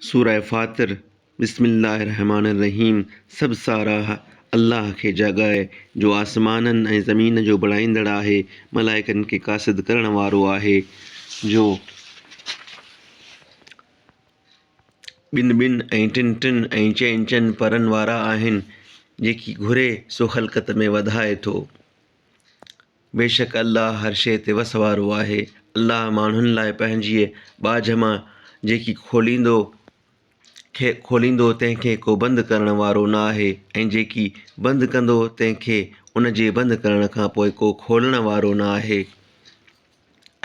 سوره فاطر، بسم الله الرحمٰن الرحيم، سڀ ساراهه الله کي جا ڳائي جو آسمانن ۽ زمين جو بڻائيندڙ آهي، ملائڪن کي قاصد ڪرڻ وارو آهي، جو ٻن ٻن ۽ ٽن ٽن ۽ چئن چئن پرن وارا آهن، جيڪي گهري سو خلقت ۾ وڌائي ٿو. بيشڪ الله هر شيء تي وس وارو آهي. الله ماڻهن لاء پنهنجيء ٻاجهه مان جيڪي کوليندو کي کوليندو تنهن کي ڪو بند ڪرڻ وارو نه آهي ۽ جيڪي بند ڪندو تنهن کي ان جي بند ڪرڻ کان پوء ڪو کولڻ وارو نه آهي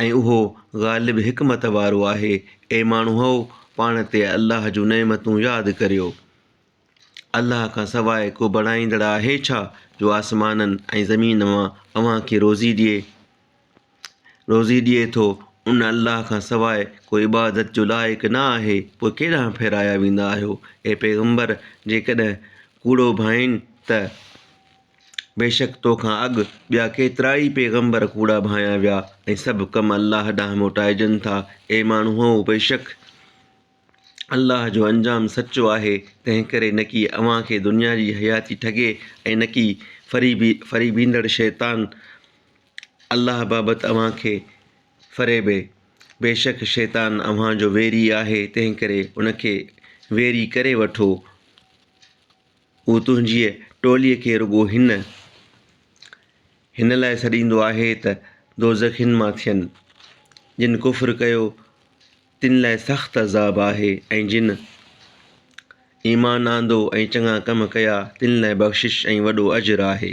۽ اهو غالب حڪمت وارو آهي اي ماڻهؤ پاڻ تي الله جون نعمتون ياد ڪريو الله کان سواء ڪو بڻائيندڙ آهي ڇا جو آسمانن ۽ زمين مان اوهان کي روزي ڏئي روزي ڏئي ٿو ان الله کان سواء ڪو عبادت جو لائق نه آهي پوء ڪيڏانهن ڦيرايا ويندا آهيو اي پيغمبر جيڪڏهن ڪوڙو ڀانئين ته بيشڪ تو کان اڳ ٻيا ڪيترا ئي پيغمبر ڪوڙا ڀانئيا ويا ۽ سڀ ڪم الله ڏانهن موٽائجن ٿا اي ماڻهؤ بيشڪ الله جو انجام سچو آهي، تنهنڪري نڪي اوهان کي دنيا جي حياتي ٺڳي ۽ نڪي فريبي، فريبيندڙ شيطان، الله بابت اوهان کي فريبي. بيشڪ شيطان اوهان جو ويري آهي، تنهنڪري ان کي ويري ڪري وٺو. هو تنهنجيء ٽوليء کي رڳو هن، هن، لاء سڏيندو آهي ته دوزخين مان ٿين، جن ڪفر ڪيو. تن لاء سخت عذاب آهي ۽ جن ايمان آندو ۽ چڱا ڪم ڪيا تن لاء بخشش ۽ وڏو اجر آهي.